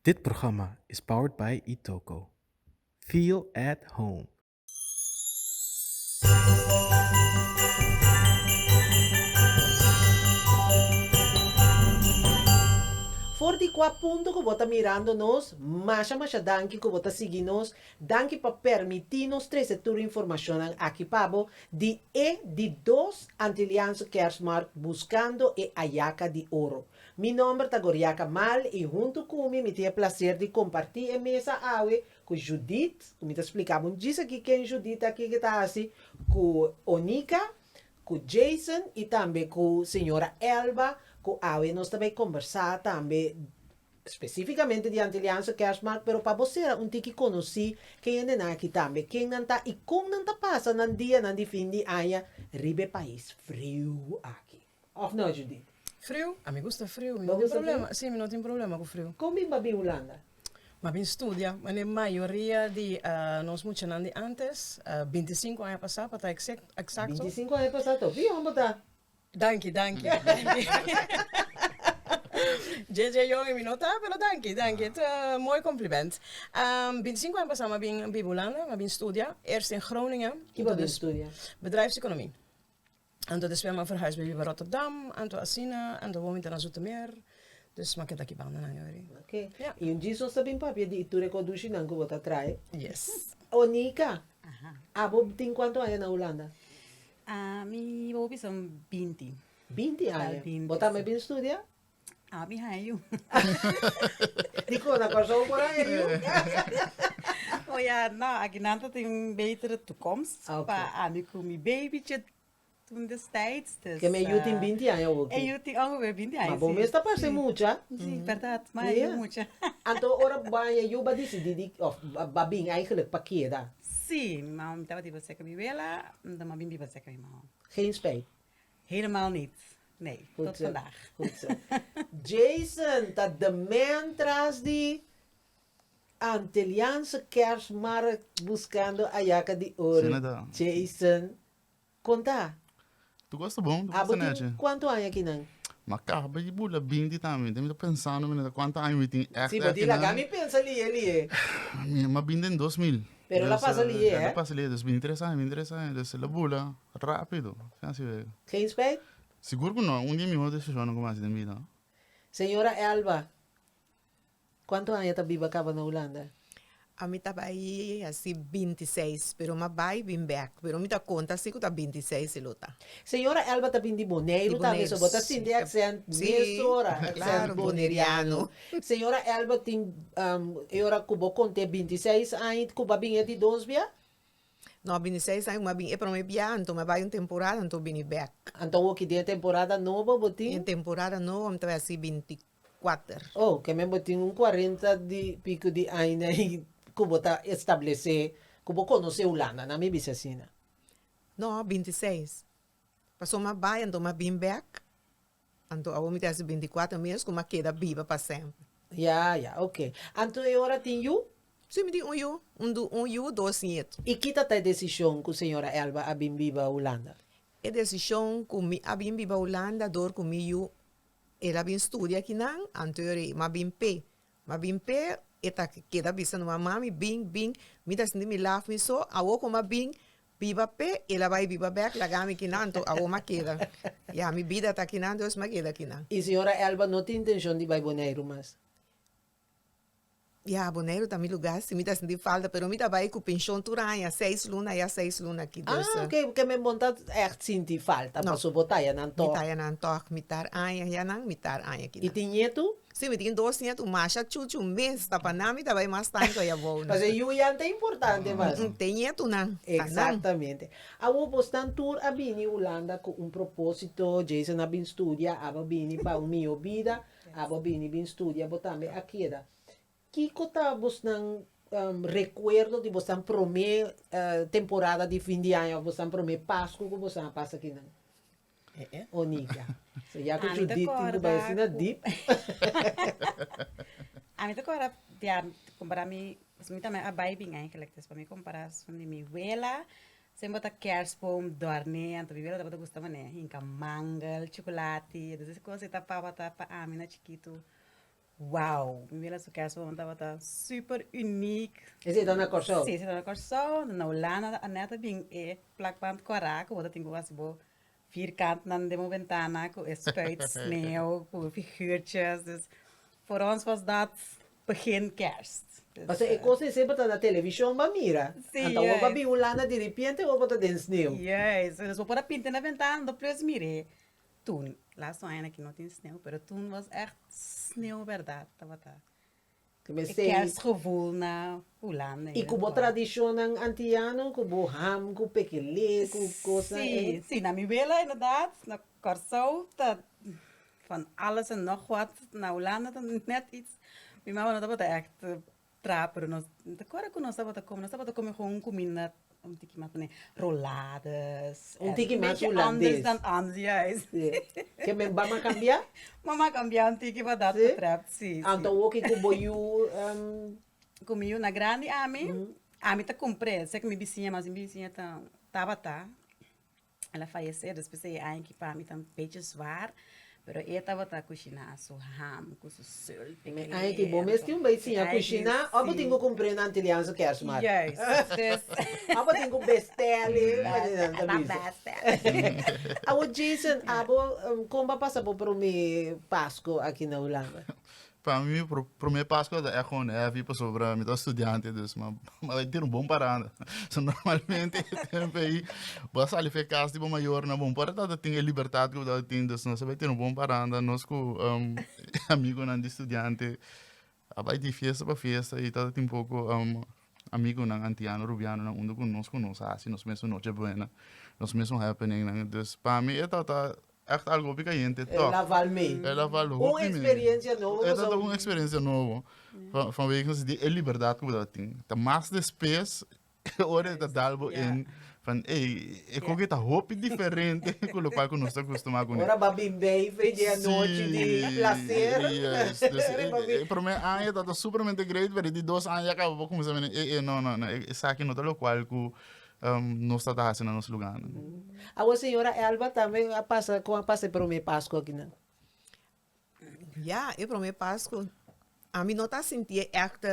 Dit programma is powered by Itoco. Feel at home. For di kua punto ku bo ta mirando nos, masha masha danki ku bo ta sigui nos, danki pa permití nos trese tur informashonnan aki pa bo di e di dos Antiliaanse Kersmarkt Buscando e Ayaka di Oro. Mi nomber ta Goriaca Mal y hunto cu mi mi tin e placer di comparti e mesa awe cu Judith, cu mi ta splica bo djis aki ken Judith ta kico ta haci, cu Onica, cu Jason y tambe cu Señora Elba cu awe nos ta bay combersa tambe specificamente di Antiliaanse Kerstmarkt pero pa bo cera un tiki conoci ken e nenan aki tambe, ken nan ta y con nan ta pasa nan dianan di fin di aña riba e pais friu aki. Of no Judith? Friu? A mi gusta friu, mi no tin problema, si mi no tin problema ku friu. Kon bin bo bin Hulanda? Bo bin studia, manera mayoria di nos muchanan di antes, binti sinku aña pasá pa ta eksakto. Binti sinku aña pasá ta hopi yòn bo ta. Danki, danki. Djedje yòn i mi no ta, pero danki, danki. E ta mooi kompliment. Binti sinku aña pasá mi a bin biba Hulanda, mi a bin studia. Eerst in Groningen. Ki bo a bin studia? Bedrijfseconomie. Anto despues a verhuis bay biba Rotterdam, anto asina, anto bo mintana Zoetermeer, dus ma keda ki banda nan yori. Ok. Ja. Y un djis nos ta bin papia di e tur e koducinan cu bo ta trae. Yes. Onica, abo tin cuantu aña na Hulanda? Ami bo bisa un binti. Binti aña. Bo tambe a bin studia? Abi hayu. Di cosa Kòrsou por hayu? O ya, no, akinan ta tin un betere toekomst pa ami ku mi beibichi toen destijds. Dus Ke mi yu tin binti aña hopi. E yu tin ongeveer binti aña, si. Ma bo mes ta parse mucha. Si, bèrdat. Mi a yu mucha. Anto ora baña yu ba disidí di, òf ba bin eigelijk pa keda? Si, mi mama mi tabata di baseka mi wela, mi ta maba bin di baseka mi mama. Geen spijt? Helemaal niet. Nee, tot vandaag. Goed zo. Jason ta the man tras di Antilliaanse Kerstmarkt buscando ayaca di oro. Asina ta. Jason, con ta? Tu cos ta bon, tu cos Abo ta tin nechi. cuanto aña aquí nan? Ma caha pa e bula binti tambe. Tem ta pensando mi na ta cuanta aña mi tin echt Sí, bo echt di aquí laga nan. mi pensa liye liye. Mi, mi a bin den dos mil. Pero la pasa liye, eh? La pasa liye, dus bin tres aña, bin tres aña, dus la bula rapido. Así wek. Geen spijt? Sigur ku no, un di e mihó desishonnan ku mi hasi den bida. Señora Elba, kuantu aña ta biba kaba na Hulanda? Ami ta bai hasi binti i seis, pero mi a bai bin bèk. Pero mi ta konta asi ku ta binti i seis e lo ta. Señora Elba ta bin di Boneiru tal bes, so bo ta sinti e aksènt mesora, aksènt boneriano. Señora Elba tin e ora cu bo conte binti y seis aña cu bo a bini e di dos bia? No, bini seis aña cu mi a bini e prome bia, anto mi a bay un temporada anto bini bek. Anto awor ki den e temporada nobo bo tin? Den temporada nobo mi ta bay haci binti kuater. Oh, kemen bo tin un cuarenta y pico di aña y cu bo ta establece, cu bo conoce Hulanda, nan mi bisa asina. No, binti seis. Pasobra mi a bay anto mi a bini bek. Anto awor mi ta hasi binti-kuater mes ku mi a keda biba pa semper. Ya, ya, ok. Anto e ora tin yu? Si, mi tin un yu. Un du, un yu, dos niet. I kita ta e desishon ku señora Elba a bin biba Hulanda? E desishon ku mi a bin biba Hulanda dor ku mi yu. El a bin studia akinan, anto e ora ei mi a bin p'e. Ma bin p'e e ta keda bisa no, ma mami bin, bin, mi ta sinti mi laf mi so, awor con m'a bin biba p'e, el a bai biba bek laga mi kinan to, awor m'a keda, ya, mi bida ta kinan dus m'a keda kinan. Y señora Elba no tin intencion di bai Boneiru mas? Ya, Boneiru ta mi lugar si, mi ta sinti falta, pero mi ta bai cu pension tur aña, seis luna allá, seis luna aki, dus. Ah, ok, kembe bo no ta echt sinti falta, No. paso bo taya nan Mi tok. taya nan tok, mitar aña allá nan, mitar aña aquí Y nan. tin ñetu? Si mi tin dos niet un masha chuchu un mes ta pa nan mi ta bai mas tanto ai abou no. Pasobra yu yan ta importante mas. Te nietunan ta nan. Exactamente. Awor bo stan tur a bini Hulanda cu un proposito, Jason a bin studia, abo bini pa un miho bida, abo bini bin studia bo tambe a keda. Kico ta bosnan recuerdo di bosnan prome temporada di fin di aña of bosnan prome Pascu cu bosnan a pasa akinan? Ami ta corda dia compara mi, pasobra mi tambe a bay biñay gelijk ta esaki mi compara asun di mi wela, siempre bo ta kerstboom dorne, anto mi wela tabata gusta pone hinca mangel, chocolate, entonces esaki cosa ta paba ta pa ami na chikitu Wow! Mi mira su casa hopi tabata super unique. Ese ta na Corsou? Sí, ese ta na Corsou. Na Hulanda ta Annette bin e plakplant kora ku bo ta tin ku bo hasi bo vierkantnan den bo bentana ku e spuit sneeuw ku figurtjes. Dus for ons was dat begin kerst. Pasobra e kos esei bo ta na televishon bo a mira. Sí, juist. Anto bo a bin Hulanda diripiente hopi bo ta den sneeuw. Juist. Dus bo por a pinta na bentana, bo ta plis mir'e. Tun, laatste un añanan ki no tin sneeuw, pero tun was ècht sneeuw bèrdat tabata e kèrsgevoel na Hulanda. I ku bo tradishonnan antiyano, ku bo ham, ku pekelé, ku kosnan e? Sí, sí, na mi wela inderdat, na Kòrsou ta van alles en nògwat, na Hulanda ta nèt iets, mi mama no tabata ècht Tra, pero nos ta kore ku nos tabata kome, nos tabata kome gon un kuminda un tiki mas pone roladas, Un tiki mas bechi anders hulandes. dan anders, juis. Si. Ke men Bam a kambia? Bam a kambia un tiki pa dat Si? betreft, si, si. Anto woki ku bo yu em, Ku mi yuna grandi ami, ami ta kumpré, seki mi bisiña, mas mi bisiña ta tabata. El a fayesé despues di e aña ki pa mi ta un beetje zwaar, pero e a tabata kushiná su ham ku su sulti ku rientu. E aña ki bo mes tin bai siña kushiná òf bo tin ku kumpr'é nan te di Hans Kersmar? Juist, dus. Òf bo tin ku bèstèl'é pa di nan ta bisa? Awor Jason, abo kon bo a pasa bo promé Pasko aki na Hulanda? Pa mi mi prome Paskua ta echt gewoon heavy pasobra mi ta un studiante dus mi bai tira un bon paranda. So normalmente e tempo ei bo a sali for e kas di bo mayornan bon por a tabata tin e libertad ku bo tabata tin dus nos a bai tira un bon paranda nos ku amigunan di studiante a bai di fiesta pa fiesta i tabata tin poko amigunan antiano rubianonan unda ku nos ku nos a hasi nos mes un noche buena nos mes un happeningnan. Dus pa mi e tabata Echt algo hopi cayente toch. El a val me. El a val hopi me. Un experiencia nobo. E ta un experiencia nobo. Vanwege nos idee e liberdad cu bo ta tin. Ta mas despues ora e ta dal bo in van ey e coge ta hopi diferente cu locual cu nos ta custuma cune. Ora ba bin beife dje anochi di placer. Yes. Dus e prome aña ta ta supermente great pero di dos aña ya caba bo cuminsa mira ey ey no no no esaki no ta locual cu nos ta ta hasi na nos luganan. Awor señora Elba tambe a pasa con a pasa e prome Pascu aki nan? Ya, e prome Pascu ami no ta sintié echt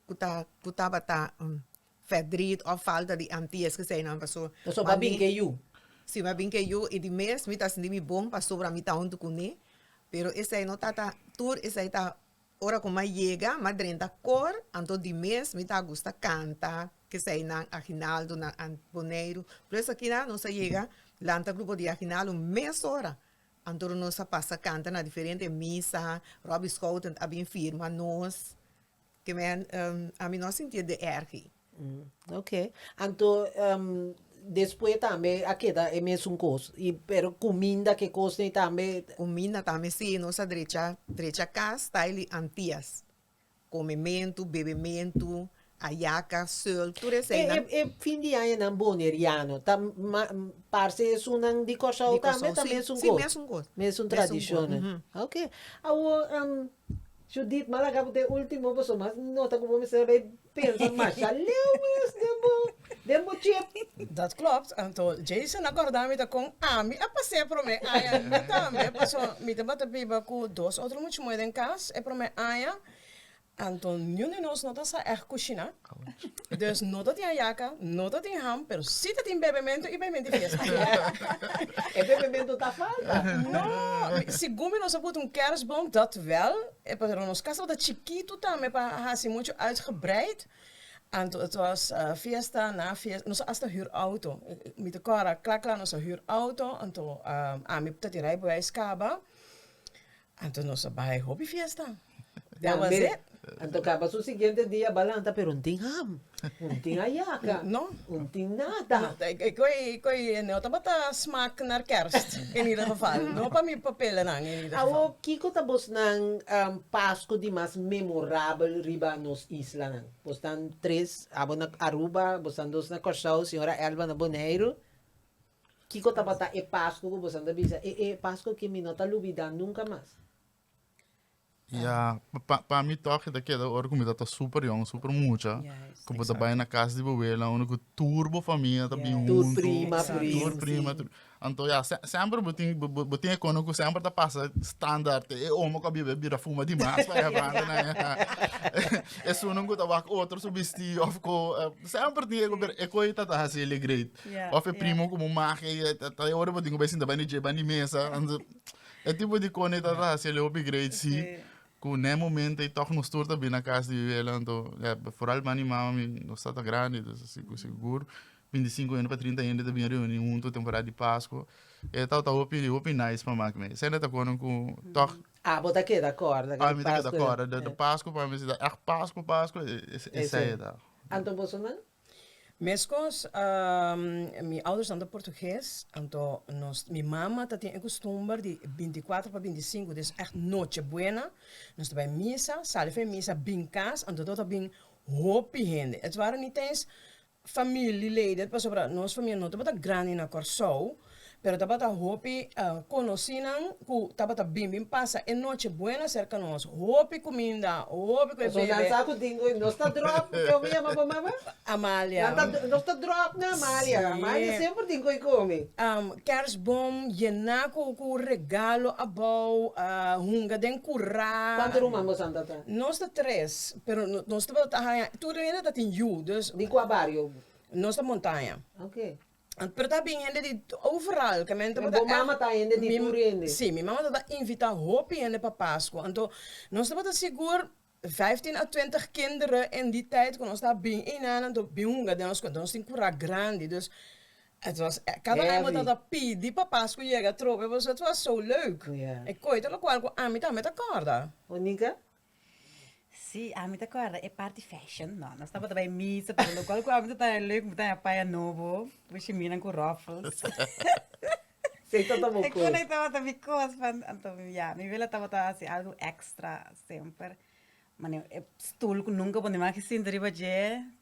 cu ta cu tabata fedriet of falta di anti esque esey nan pasobra mi. Paso bo a bin ke yu. Si, mi a bin ke yu y di mes mi ta sinti mi bon pasobra mi ta huntu cune pero esey no tata tur esey ta Ora ku mai yega, ma drenta kor, anto di mes mi ta gusta kanta kesei nan aginaldo, nan an boneiru. Por eso akina nos a yega lanta grupo di aginaldo mes ora, anto nos a pasa kanta na diferente misa, Robbie Schouten a bin firma nos, ke me ami no a sintié de ergi. Oke, anto despues tambe a keda e mesun kos, y pero cuminda ke kos ney tambe? Cuminda tambe si, nos a drecha, drecha cas taai li antias, comementu, bebementu, ayaca, sul, tur esey nan. E fin di aña nan boneriano ta parce esunnan di Corsou tambe ta mesun kos? Si, mesun kos. Mesun tradicionnan. Mesun kos, uhumm. Oke, awor Judith, Malaga bo ta e ultimo boso mas no ta ku bo mester bay pensa masha leu mes den bo den bo chip. Dat klopt, anto Jason a korda mi ta kon ami a pas'é promé aña mi tambe paso mi tabata biba ku dos otro muchumue den kas e promé aña anto niun di nos no ta sa ègt kushiná. Dus no ta tin hayaca, no ta tin ham, pero si ta tin bebementu y paimente fiesta. E bebementu ta falta. No, segun mi nos a buta un kerstboom, dat wel, pero nos kas tabata chikitu tambe pa hasi muchu uitgebreid. Anto et was fiesta na fiesta, nos a hasta hür auto. Mi ta kòrda, kla kla nos a hür auto, anto ami ta tin rai beweis kaba. Anto nos a bai hopi fiesta. That was it. Anto kaba su siguiente dia ba lanta pero no tin ham, no tin ayaka, no tin nada. E koe e no tabata smaak naar kerst in ieder geval. No pa mi pa pelanan in ieder geval. Awo kiko ta bosnan Pasku di mas memorabel riba nos islanan? Bos tan tres, abo na Aruba, bos tan dos na Kòrsou, señora Elba na Boneiru. Kiko tabata e Pasku ku boso a tabata bisa, e Pasku ku mi no ta lubidá nunka mas? Ya, pa mi tòg e ta keda ora ku mi tabata super yòn, super mucha, ku bo ta bai na kas di bo abuela, unda ku tur bo famia ta bin huntu. Tur prima, tur prima. Anto ya, semper bo tin, bo tin e kono ku semper ta pasa standaard e omo ku a biba, e bira fuma di mas pa e banda nan. Esun ku ta wak otro su bistí òf ko, semper tin e ku, pero e ku ei ta hasi e alegre. Yeah, of e yeah. primo como magia y ta ta ora pa dingo besin tabani je bani mesa and e tipo di cone ta ta hacer hopi great si Sí. con ne momento y toch nos tur ta bina casa di vivela anto ya vooral mani mama mi nos ta ta grande dus así con seguro 25 hende pa 30 hende ta bin reuni junto temporada di Pascua e ta ta hopi hopi nice pa mak me sende ta kono con toch Ah, bo ta queda corda. pa mi ta keda kora de de Pascua pa mi si ta echt Pascua Pascua e e Ese. sei ta Anto bosonan? Meskos, mi oudersnan ta portugues, anto nos, mi mama ta tin e kustumber di binticuatro pa binticinco di es ècht noche buena, nos ta bai misa, sali for e misa bin kas, anto do ta bin hopi hende. It ware nitens familileden, pasobra nos famia no tabata grandi na Kòrsou, Pero tabata hopi conocinnan cu tabata bin bin pasa e noche buena cerca nos, hopi cuminda, hopi cu e bebe. Pasobra nan sa cu dingo y nos ta drop, cu kico mi yama bo mama? Amalia. Nos ta drop na Amalia, Amalia semper dingo y comi. Kerstboom yena cu cu regalo abao, hunga den cura. Cuanto ruman bosan tata? Nos ta tres, pero nos tabata haya, tur den hende tatin yu, dus. Di cua bario? Nos ta Montaña. Ok. Pero ta bin hende di overal ke men tabata Bo mama ta hende di tur hende? Si, mi mama tabata invita hopi hende pa Pasko. Anto nos tabata sigur vijftien a twintig kinderen en di tait ku nos ta bin einan anto bin hunga den nos kos. Nos tin kura grandi dus et was kada aña bo tabata pidi pa Pasko yega trobe pasobra et was so leuk. E koi ta lokual ku ami tambe ta kòrda. Monica? Sí, ami ta kòrda e parti fashion. No, nos tabata bai misa, pero lo kual ku ami ta taya lek, mi ta haya paya nobo, ku shiminan ku ròfels. Esei tabata bo kos. Esei tabata mi kos. Anto, ya, mi abuela tabata hasi algu èkstra semper. Stul ku nunka bo nimaha ke sinta riba dje.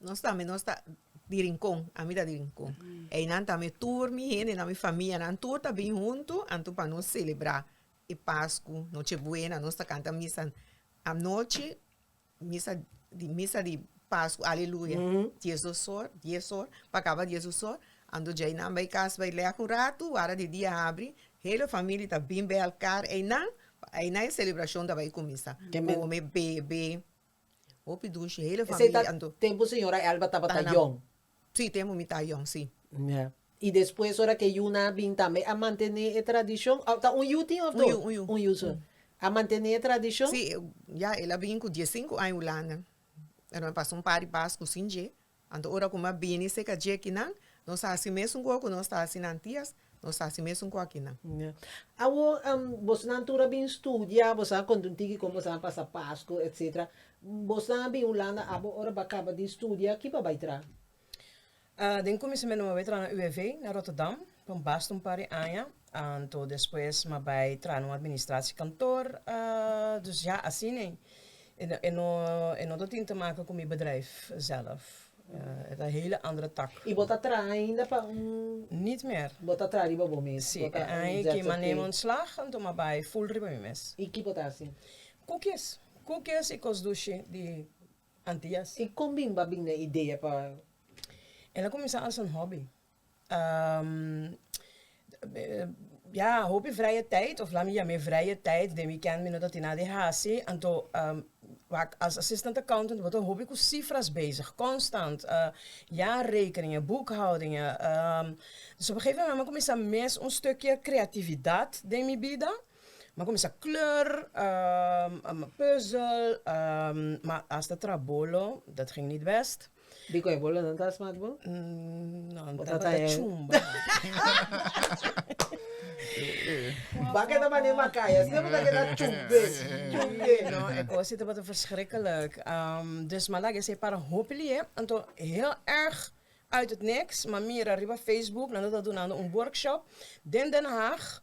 Nos tambe nos ta di rincon ami ta di rincon einan tambe tur mi hendenan mi famianan tur ta bin huntu anto pa nos celebra e pascu noche buena nos ta canta misa anochi misa di misa di pascu aleluya dies dos ora dies ora pa caba dies dos ora anto djei nan bai cas bai lek un ratu wara di dia a habri hele famili ta bin bei alkar einan einan e celebracion ta bai cuminsa come bebe Hopi dushi, hele Esei ta familia anto. tempu señora Elba tabata Tana. yòn. Sí, tempu mi ta yòn, sí. Ya. I despues ora ke yuna a bin tambe a mantené e tradishon? Òf ta un yu tin òf Un dos? yu, un yu. Un yu so. A mantené e tradishon? Sí, ya el a bin ku dies sinku aña Hulanda. Nan a pasa un par di pasku sin dje. Anto ora ku m'a bini seka djekinan, nos ta hasi mesun ku oku nos ta hasi nan tias, nos ta hasi mesun ku akinan. Awor, bosnan tur a bin studia, boso a konta un tiki kon boso a pasa Pasku, etc. Bosnan a bin Hulanda abo, ora b'a kaba di studia, ki pa bai tra? Den kuminsamentu m'a bai tra na UWV, na Rotterdam, pa un basta un par di aña. Anto despues m'a bai traha na un administratiekantoor, dus ja asina ei. E no e no ta tin te make ku mi bedrijf zelf. E ta hele andere tak. I bo ta traha ainda pa un. Nit mer. Bo ta traha riba bo mes. Si, e aña i ki m'a nema ontslag, anto m'a bai ful riba mi mes. I ki bo ta hasi? Kukis. Kukis i kos dushi di Antias. I kon bimba bini e idea pa. El a kuminsá als un hobby. Ya, hopi vrije tijd, of laat me yam'é vrije tijd, den weekend mi no ta tin nada di hasi, anto wak as assistant accountant bo ta hopi ku sifras bezig, konstant, jaarrekeningen, boekhoudingen, dus op e gegeven moment mi a kuminsá mes un stukje kreatividat den mi bida, mi a kuminsá kleur, mi a puzzel, ma asta trabolo, dat ging niet best. Di cu e bolo nan ta smak bo? No, bo ta ta chumba. Baka ta mane makaya, si bo ta keda chumbe, chumbe. No, e cos die tabata verschrikkelijk. Um, dus ma laga esey para hopi lihé. Anto, heel erg uit het niks, ma mira riba Facebook, nan ta dunando un workshop den Den Haag,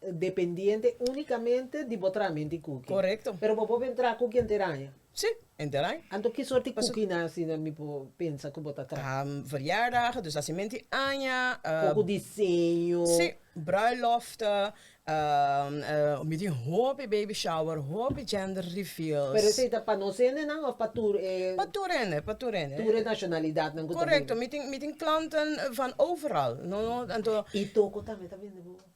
dependiente unicamente di bo traha menti cookie. Correcto. Pero bo por ben traha cookie enter aña? Sí, enter aña. Anto ki soorti cookie nan asina mi por pensa cu bo ta traha? Ah, verjaardagen, dus asi menti aña. Poco diseño. Sí, bruiloften, mi tin hopi baby shower, hopi gender reveals. Pero esey ta pa nos hende nan of pa tur e? Pa tur hende, pa tur hende. Tur e nacionalidad nan cu ta bini. Correcto, mi tin, mi tin klanten van overal. No, no, anto. Y toko tambe ta bende bobo?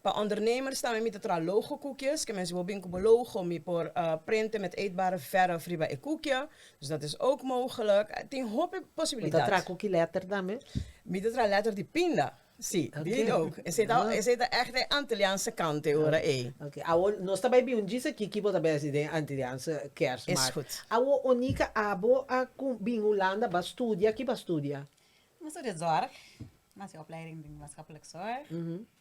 Pa ondernemers tambe mi ta traha logo kukies, ke men si bo bin ku bo logo mi por prente met eetbare verf riba e kukie, dus dat is ook mogelijk. Tin hopi posibilidat. Bo ta traha kuki letter tambe? Mi ta traha letter di pinda, si, di it ook. Esei ta esei ta ècht e Antilliaanse kante ora ei. Oké, awo nos ta bai bin un djis aki ki bo ta bai hasi den Antilliaanse Kersmaart. Is gud. Awo Onika, abo a ku bin Hulanda ba studia, ki bo a studia? Mi a studia zorg, mi a hasi opleiding den Maatschappelijk Zorg.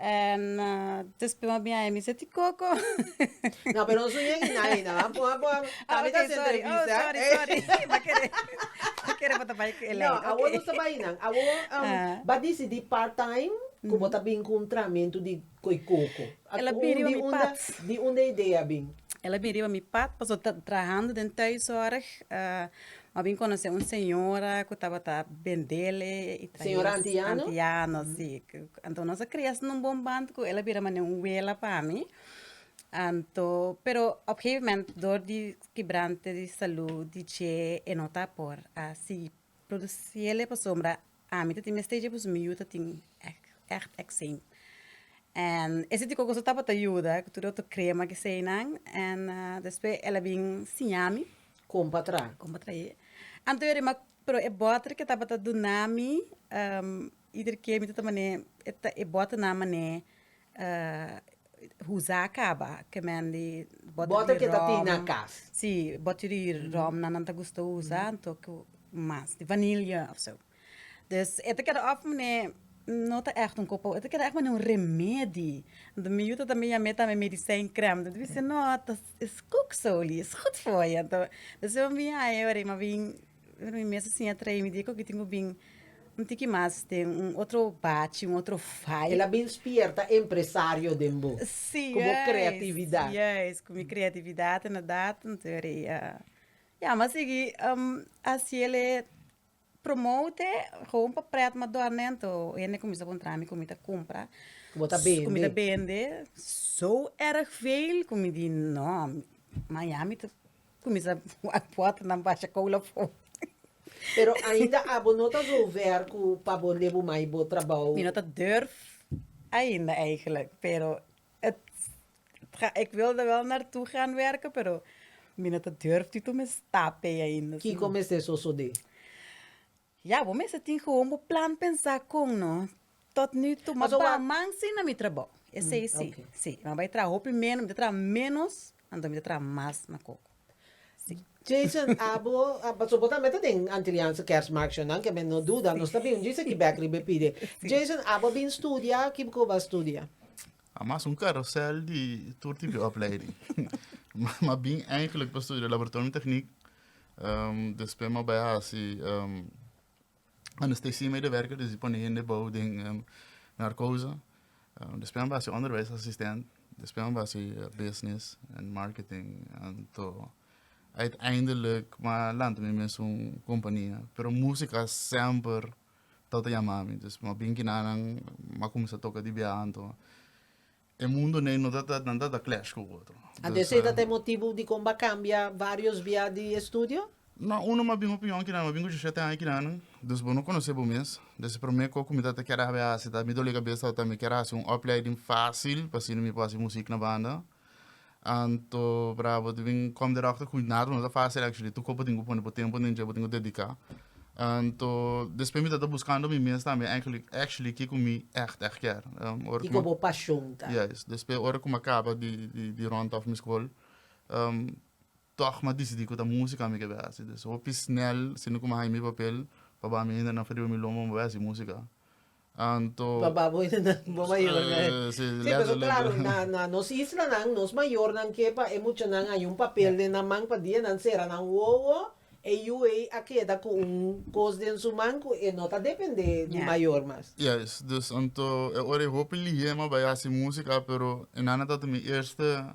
En despues m'a bin a Amy sa ti coco. No, pero no su ña Ina Ina, va. Pon a, pon a. Ah, Tambe ta ok, hasi sorry. Oh, entrevista. sorry, eh. sorry. M'a kere, m'a kere bo ta bai ku Elaine. No, awor Ok. no sa bai nan. Awor um, Ah. ba disidí part-time ku bo ta bin ku un tramentu di koi koko. A Ela bin riba unda, mi unda, pat. di unda e idea a bin? Ela bin riba mi pat, pasobra ta trahando den thuishoorg. ah, A bin conoce un señora cu tabata bendel e traes antiano si, anto nos a cria so na un bon band cu el a bira mane un wela pa mi, anto pero op gegeven moment door di kibrante di salud di dje e no ta por a sigui produci el e pasobra Ami ta tin mester dje pues mi yu ta tin echt eczeem en ese tipo cosa tabata yuda cu tur otro crema keseynan en despues el a bin siñami Con pa traha. con pa trahe anto yari ma pero e butter que tabata dunami ieder keer mi ta ta mane e butter nan mane usa a caba ke men di bottle di rum si bottle di rum nan nan ta gusta usa anto cu mas di vanilla of so dus e ta keda of mane no ta echt un coppo e ta keda echt mane un remedi anto mi yu ta ta miami e ta mi medicijn crem mi ta bisa no ta is cook soli is gud foye anto dus e a bin haña ora e a bin Pero mi mes a siña trae mi diko kitin ku bin un tiki mas den un otro bachi, un otro faya. El a bin spierta empresario den bo. Sí, Ku bo kreatividat. Juist, ku mi kreatividat inderdat. Entere a ya mi a sigui hasi ele promote gewoon pa prèt ma dòrnènto hende kuminsá a kontrá mi ku mi ta kumpra. Ku bo ta bende. Ku mi ta bende. So èrg veel ku mi di no, ma ya mi ta Kuminsá wak pòrtanan basha koula for. Pero ainda abo no ta zover ku pa bo lebe mai bo trabou? Mi no ta durf ainda eigelijk, pero et ik wilde wel naartoe gaan werken pero mi no ta durf di tuma e stap ei ainda. Kiko mester sosodé? Ya, bo mester tin gewoon bo plan pensa con no tot nu toe ma ba man si na mi trabao. Esey si. Si, mi a bay traha hopi menos, mi ta traha menos, anto mi ta traha mas na coco. Si. Jason, abo, paso bo tambe ta den Antiliaanse Kerstmarktjournaal, ke men no duda, nos ta bin un djis aki bek riba e pide. Jason, abo a bin studia, kico bo a studia? A mas un carusel di tur tipo di opleiding. Ma bin eigenlijk pa studia Laboratorium Techniek, Despues mi a bai hasi anestesia medio werker, desdi pone hende ebouw den narkoze. Despues mi a bai hasi onderwijs assistent, despues mi a bai hasi business en marketing anto uiteindelijk mi a lanta mi mes un compania pero musica a semper tawata yama mi, mi a bin kina nan mi a cuminsa toca di biaha anto. E mundo n'ei no ta ta nan ta ta clash ku otro. Anto esei ta ta e motibu dikon bo a kambia varios bia di estudio? No, uno mas bin opinion kinan, mi a bin ku dishisiete aña kinan, dus bo no konosé bo mes. Entonces e promé ku ku mi ta ta kèr habi hasi ta mi doli kabes tabata mi kèr hasi un opleiding fásil pa asina mi por hasi musik na banda. Anto brabo di bin com the doctor cuidado no ta facil actually tu cuerpo tin cu pone bo tempo den dje bo tin cu dedica anto despues mi ta ta buscando mi mes tambe actually actually kico mi echt echt kier ora cu mi a caba di di di rond of mi school. Tog m'a dicidi cu ta musica mi ke bai haci. Des hopi snel siendo cu m'a haña mi papel pa ba mi hende nan feriba mi lomba, m'a bai haci musica. Anto. Pa ba bo hende nan bo mayornan he. Si, lento, lento. Si, pero claro, na, na nos islanan, nos mayornan ke pa e muchanan haña un papel den nan man pa dia nan cera nan wowo, e yu ei a keda cu un cos den su man cu e no ta depende di mayor mas. Juist. Dus anto e ora ei hopi lihe m'a bai haci musica, pero e nana tabata mi eerste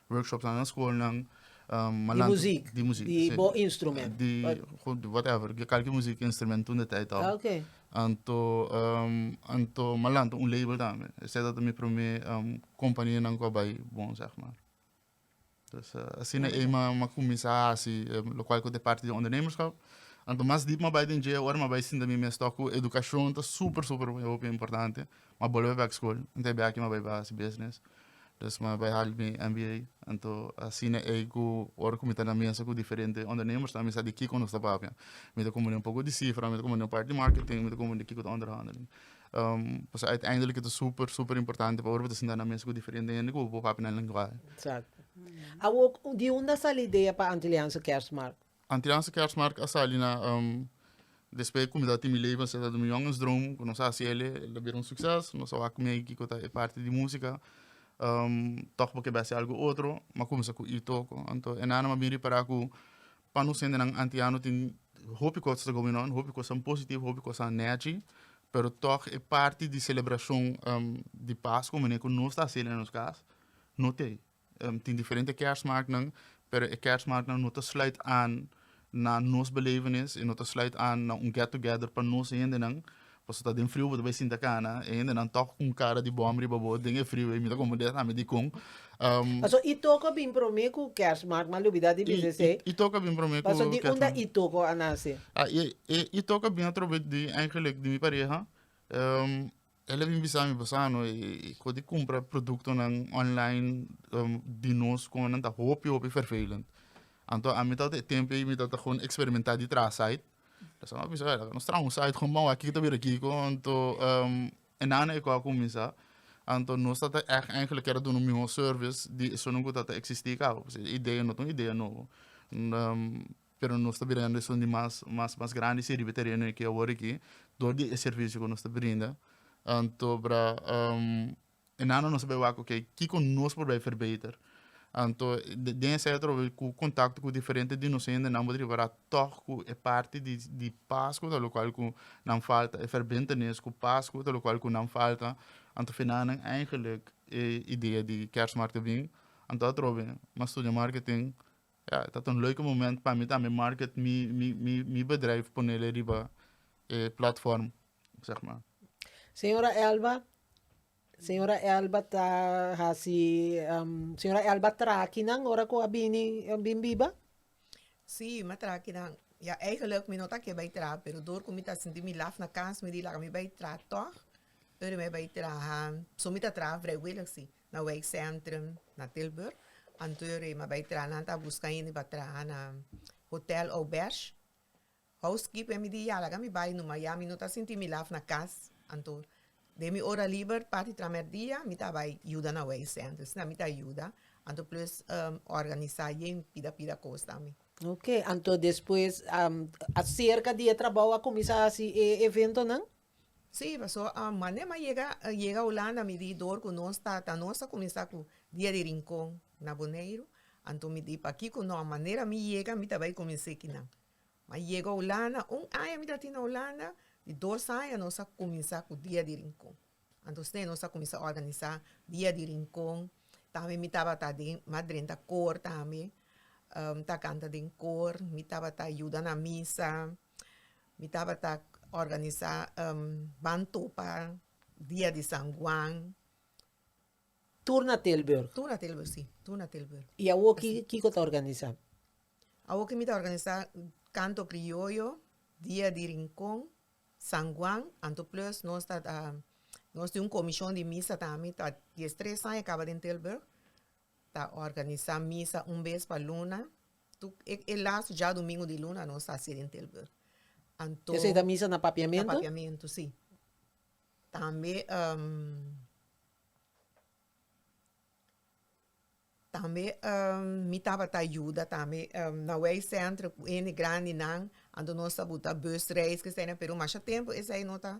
Workshops na nan skolnan malantu. Di muzik. Di muzik. Di bo instrument. Di whatever, di kalki muzik instrument tunda tei tou. Ah, okay. Anto, anto malantu un label tambe. Esei tabata mi prome kompanianan ku a bai bon, zeg maar. Dus, asina ei m'a kuminsá hasi lokual ku ta e parti di ondernemerskap. Anto mas dip m'a bai den dje, ora m'a bai sinta mi mes tok ku edukashon ta super, super hopi importante. Ma bolbe bek school mi ta biaha aki mi bai bai haci business dus mi bai hali mi MBA anto asina ey cu ora cu mi ta na mesa cu diferente ondernemers mi sa di kico nos ta papia mi ta cumpri un poco di cifra mi ta cumpri un parti di marketing mi ta cumpri kico ta onderhandelen pues uiteindelijk ey ta super super importante pa ora bo ta sinta na mesa cu diferente hende cu bo papia nan lenguahe. Exacto. Awor di unda sali idea pa Antilliaanse Kerstmarkt? Antianse Kersmark a sali na despe kumida Timi Leyva seta duna jongensdroom ku nos a hasi eli el a bira un sukses nos a wak kumia i kiko ta e parti di musika tok bo ke bes e algu otro m'a kuminsa ku i toko anto e nannan a bin ripara ku pa nos hendenan antiano tin hopi kos ta gobierno hopi kosnan positivo hopi kosnan nèchi pero tòg e parti di selebrashon di Pasku manera ku nos ta hasi eli na nos kas no t'ei Tin diferente kèrsmaaknan, pero e kèrsmaaknan no ta sluit aan na nos belevenis i no ta sluit aan na un get together pa nos hendenan. Pasobra ta den friu bo ta bai sinta kana, e hendenan tòg ku un kara di bòm riba bo den e friu ei, mi ta komo des ami dikon. Paso i toko bin promé ku kèrsmaak, mi a lubidá di bisa esei. I toko bin promé ku kèrsmaak. Paso di unda i toko a nase? I toko a bin atrobes di, eigenlijk di mi pareha. El a bin bisa mi, Bassano, e kos di kumpra produktonan online di nos kon nan ta hopi hopi fervelend. Anto ami tabata e tempo ei mi tabata kon eksperementá di traha site, Bassano a bisa, laga nos traha un site kon bou a kiki ta bira kiko, anto e nan ei ku a kuminsá, anto nos tabata ègt eigenlijk kere duna un mihó sèrvis di esuntu ku tabata eksistí kabaw, pasobra e idea no ta un idea nobo. pero nos ta bregando esun di mas mas mas grandi si riba tereno aki awor aki dor di e servicio ku nos ta brinda anto para e nana nos a bay wak okay kiko nos por bay verbeter anto den esei atrobe ku contacto ku diferente di nos hende nan bo ta ripara tog ku e parti di di pas ku ta lo kual ku nan falta e verbentenis ku pas ku ta lo kual ku nan falta anto afe nan nan eigenlik e idea di kersmarke a bin anto atrobe nan studia marketing. Ya e tabata un leuke moment pa mi tambe market mi mi mi bedrijf ponele riba e platform zeg ma. Señora Elba, señora Elba ta hasi señora Elba trakinan ora ku a bini a bin biba? Si mi a trakinan ya eigenlijk mi no ta ke bai traha pero dor ku mi ta sinti mi laf na kas mi di laga mi bai traha tog pero mi bai traha so mi ta traha vrijwillig si Na wijk Centrum na Tilburg. Anto ri ma bai traha nan ta buska hende pa traha na hotel Auberge. Housekeeper mi di yalaga mi bai nu ma ya mi no ta sinti mi laf na kas. Anto den mi ora liber parti traha merdia mi ta bai yuda na wijk Centrum. Asina mi ta yuda anto plus organisa yen pida pida kos ta mi. Ok anto despues acerca di e trabou a cuminsa hasi e eventonan? Sí, pasó manera ma yega yega Hulanda mi di dor cu nos ta ta nos ta cuminsa cu dia di rincon na Boneiru anto mi di pakico no a manera mi yega mi ta bay cu minse ki nan ma yega Hulanda un aña mi ta tin na Hulanda di dos aña nos a cuminsa cu dia di rincon anto esey nos a cuminsa organisa dia di rincon tambe mi tabata den ma drenta koor tambe mi ta canta den koor mi tabata yuda na misa. Mi tabata organisa ban topa dia di San Juan. Tur na Tilburg? Tur na Tilburg, si. Tur na Tilburg. I awor ki, kiko ta organisa? Awor ki mi ta organisa kanto krioyo, dia di Rincon, San Juan, anto plus nos ta nos tin un komishon di misa tambe ta dies tres aña kaba den Tilburg, Ta organisá misa un bes pa luna. Tuk e e laatste djadumingu di luna nos ta hasi den Tilburg. Anto. Esei ta misa na papiamentu? Na papiamentu, si. Tambe tambe mi tabata yuda tambe na wei sèntro ku hende grandinan anto nos ta buta busreis ku esei na Peru. Masha tempu esei no ta.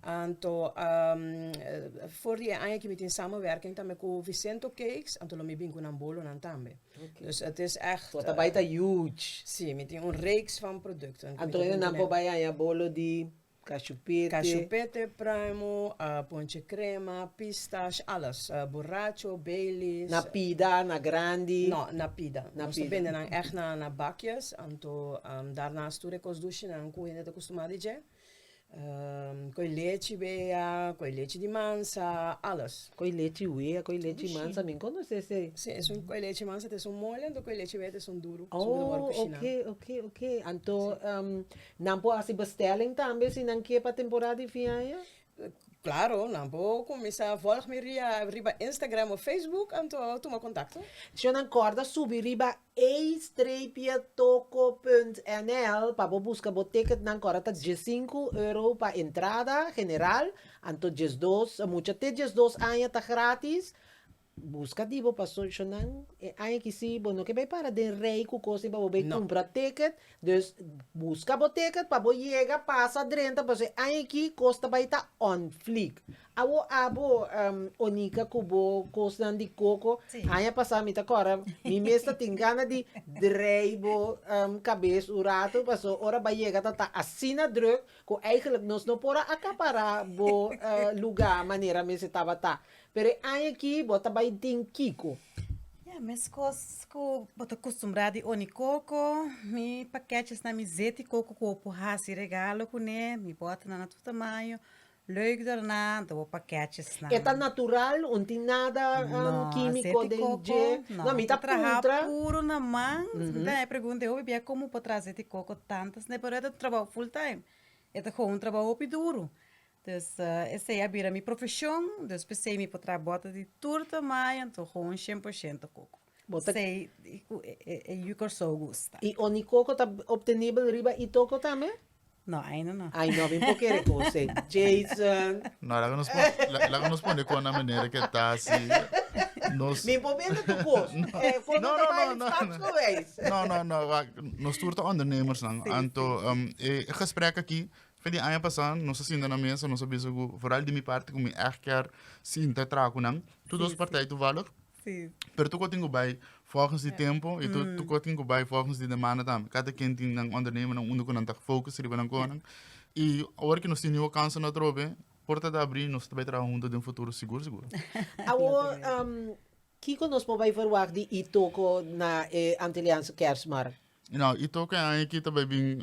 Anto for di e aña aki mi tin samenwerking tambe ku Vicento Cakes, anto lo mi bin ku nan bolonan tambe. Dus et is echt. So ta bai ta huge. Si, mi tin un reeks van producten. Anto e nan por bai haña bolo di kashupete. Kashupete, pruimo, ponche krema, pistash, alles. Borracho, Baileys. Na pida, na grandi? No, na pida. Nos ta bende nan echt na bakjes, anto darnas tur e kos dushinan ku hende ta kustumá di dje. Koe lechi wea, koe lechi di mansa, alles. Koe lechi wea, koe lechi mansa, mi conoce esey. Sí, esun koe lechi mansa ta esun mole, anto koe lechi wea ta esun duru. Oh, ok, ok, ok. Anto nan por hasi bestelling tambe si nan ke pa temporada di fin aña? Claro, nan por cuminsa volg mi riba Instagram o Facebook anto tuma contacto. Sho nan corda subi riba a-toco.nl pa bo busca bo ticket nan corda ta diescinco euro pa entrada general anto diesdos mucha te diesdos aña ta gratis Busca di bo pa socio nan, e aña ki si bo no ke bay para den rey cu cos di pa bo bay cumpra ticket, dus busca bo ticket pa bo yega pasa drenta pasobra e aña ki cos ta bay ta on fleek. Awo abo Onica cu bo cos nan di coco, aña pasa mi ta acorda mi mes ta tin gana di draai bo cabes un rato pasobra ora bay yega ta ta asina druk cu eigenlijk nos no por a acapara bo lugar manera mes e tabata. Pero e aña aki bo ta bai den kiko? Ya, meskos ku bo ta kustumbrá di oni koko, mi pakètjes na mi zeti koko ku bo por hasi regalo kuné, mi bòt nan na tur tamaño, lùik dòrna, dò bo pakètjes nan. E ta natural, un tin nada kímiko den dje? No, zeti koko no, mi ta trahá puru na man, nta e pregunta e hopi bia komo bo por traha zeti koko tantas nè, pero e ta trabou full time, e ta gou un trabou hopi duru, Dus esei a bira mi profeshon, dus p'esei mi por traha bòter di tur tamai, anto gewoon shen por shento koko. Bo ta- Sei di ku e e e yu Kòrsou gusta. I oni koko ta optenibel riba Itoko tambe? No, ainda no. Ai no, mi por kere kose. Jason. No, laga nos pon, la- laga nos pone kon na manera ke ta si nos Mi por bende tu kos. E for No, no, no, no, no. geweest. No, no, no, wak. Nos tur ta ondernemersnan. Sí, sí, Anto sí. em, e e gesprek aki Fin di aña pasá nos a sinta na mesa nos a bisa ku foral di mi parti ku mi ègt kier sinta traha ku nan tur dos partij tuvallig pero tur kòrtin ku bai vòlgens di tempu i tur kòrtin ku bai vòlgens di demanda tambe kata ken tin nan ondernemernan unda ku nan ta fokus riba nan kònen i awor ku nos tin niu kansanan atrobe porta ta abrí nos ta bai traha huntu den futuro sigur sigur. Awor kiko nos por bai verwagt di Itoko na e Antiliaanse Kersmarkt? Itoko e aña aki ta bai bin.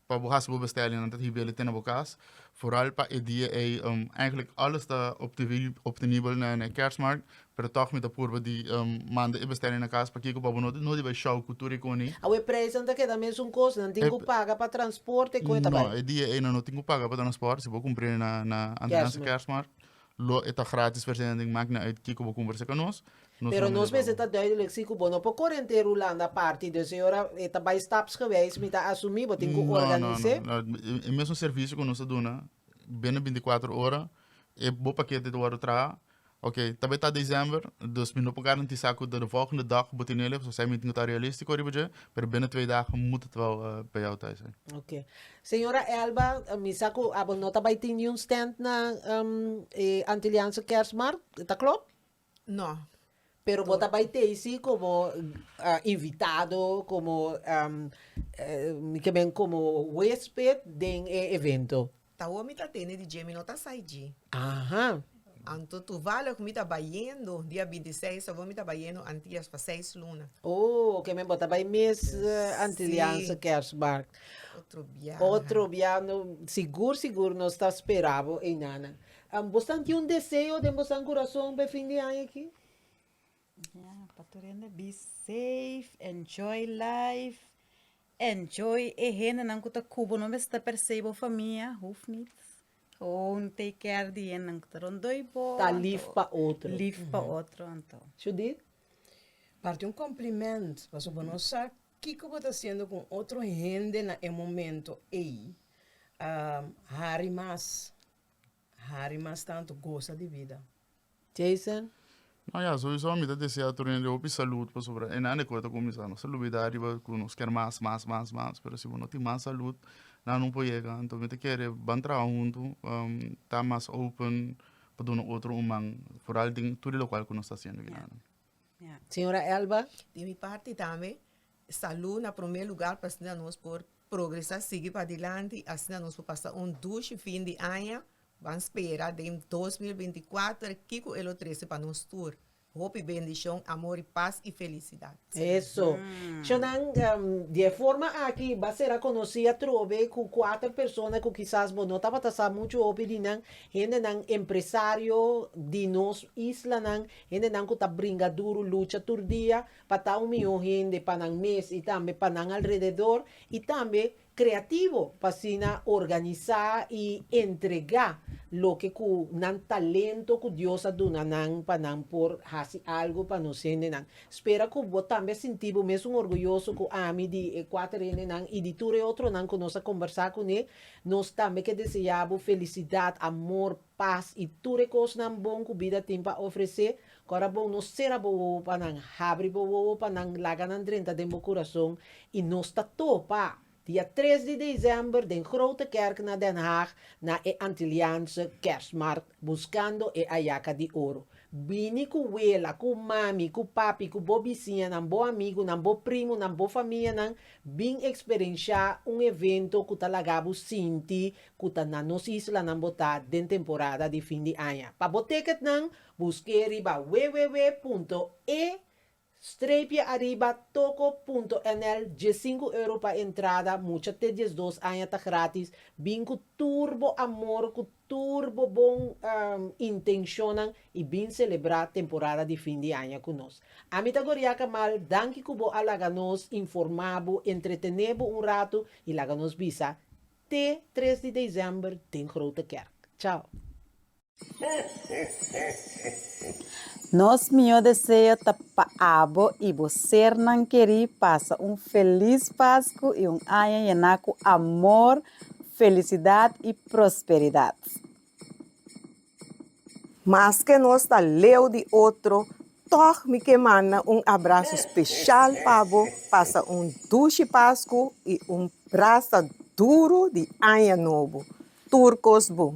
Pa bo hasi bo bestellingnan ta hibia di tene bo kas foral pa e dia ei. Eigenlijk alles ta optenibel na e Kerstmarkt pero tog mi ta purba di manda e bestelling na kas pakico pa bo no di bai show cu tur e coni. Awe e prijsnan ta keda mesun cos, nan tin cu paga pa transporte, con e ta bai? No, e dia ei nan no tin cu paga pa transporte si bo cumpri na antes di Kerstmarkt. Lo e ta gratis per sena den magna uit kico bo cumbersa ca nos. Nos Pero nos mester ta duidelijk si cu bo no por cor henter Hulanda parti, dus e ora e ta bay stapsgewijs, mi ta asumi bo tin cu organise. No, no, no, e mesmo servicio cu nos ta duna, binnen binticuatro ora, e bo paquete ta wordo traha, ok, tal bes ta december, dus mi no por garantisa cu ta den volgende dag bo tenel e, esai mi tin cu ta realistico riba dje, pero binnen twee dagen moet het wel bij jou thuis zijn. Ok. Señora Elba, mi sa cu abo no ta bay tin niun stand na e Antiliaanse Kerstmarkt, ta klop? No. Pero bo ta bay tezi como invitado, como mi ke men como huesped den e evento? Tawo mi ta tene di dje, mi no ta sai dje. Aha. Anto tuvale cu mi ta bayendo dia binti seis ta bon mi ta bayendo Antillas pa seis luna. Oh, ok men bo ta bay mes Antilliaanse kerstmarkt. Otro biaha. Otro biaha no sigur sigur nos ta spera bo einanan. Am bosnan tin un deseo den bosnan curason pa e fin di aña aki? Ya pa tur hende be safe, enjoy life, enjoy e hendenan cu ta cu bo no mester persey bo famia hoeft niet. Own take care di hennan cu ta rondoi bo. Ta lief pa otro. Lief pa otro anto. Judith, Parti un compliment paso bo no sa kico bo ta haciendo cu otro hende na e momento ey. Hari mas, hari mas tanto, goza di vida. Jason? No ya, sowiso mi ta desea tur hende hopi salud pasobra e nan e kos ta kuminsá. Nos ta lubidá riba ku nos ker mas, mas, mas, mas, pero si bo no tin mas salud nan no por yega. Enton mi ta kere ban traha huntu, ta mas open pa duna otro un man, foral den tur lokual ku nos ta hasiendo. Señora Elba. Di mi parti tambe salud na prome lugar pa asina nos por progresa sigui padilanti asina nos por pasa un dushi fin di aña ban spera den dos mil binti kuater kiko e lo trese pa nos tur hopi bendishon amor y pas y felicidad. Eso cho nan di e forma aki ba sera konosí atrobe ku kuater persona ku kisas bo no tabata sa muchu hopi di nan hendenan empresario di nos islanan Hendenan ku ta bringa duru lucha tur dia pa ta un mihó hende pa nan mes i tambe pa nan alrededor i tambe kreativo pa asina organisá i entregá loke ku nan talento ku Dios a duna nan pa nan por hasi algu pa nos hendenan. Spera ku bo tambe a sinti bo mesun orguyoso ku ami di e kuater hendenan i di tur e otronan ku nos a kombersá kuné. Nos tambe ke deseá bo felisidat, amor, pas i tur e kosnan bon ku bida tin pa ofresé, ku a ta bon no sera bo wowo pa nan, habri bo wowo pa nan, laga nan drenta den bo kurason, i nos ta topa dia tres di desèmber den Grote Kerk na Den Haag na e Antilliaanse Kerstmarkt buskando e ayaka di oro. Bini ku wela, ku mami, ku papi, ku bo bisiñanan, bo amigunan, bo primunan, bo famianan, bin eksperenshá un evento ku ta laga bo sinti ku ta na nos islanan bo ta den temporada di fin di aña. Pa bo teketnan, busk'é riba www.e-aribatoko.nl, diesinku euro pa entrada, mucha te diesdos aña ta grátis, bin ku tur bo amor, ku tur bo bon intenshonnan i bin selebrá temporada di fin di aña ku nos. Ami ta Goria Kamal, danki ku bo a laga nos informá bo, entretené bo un ratu i laga nos bisa Te tres di december den Grote Kerk. Chao. Nos mihó deseo ta pa abo i bo sernan kerí pasa un felis Pasku i un aña yená ku amor, felisidat i prosperidat. Maske nos ta leu di otro, tòg mi ke manda un abraso speshal pa bo. Pasa un dushi Pasku i un brasa duru di Aña Nobo. Tur kos bon!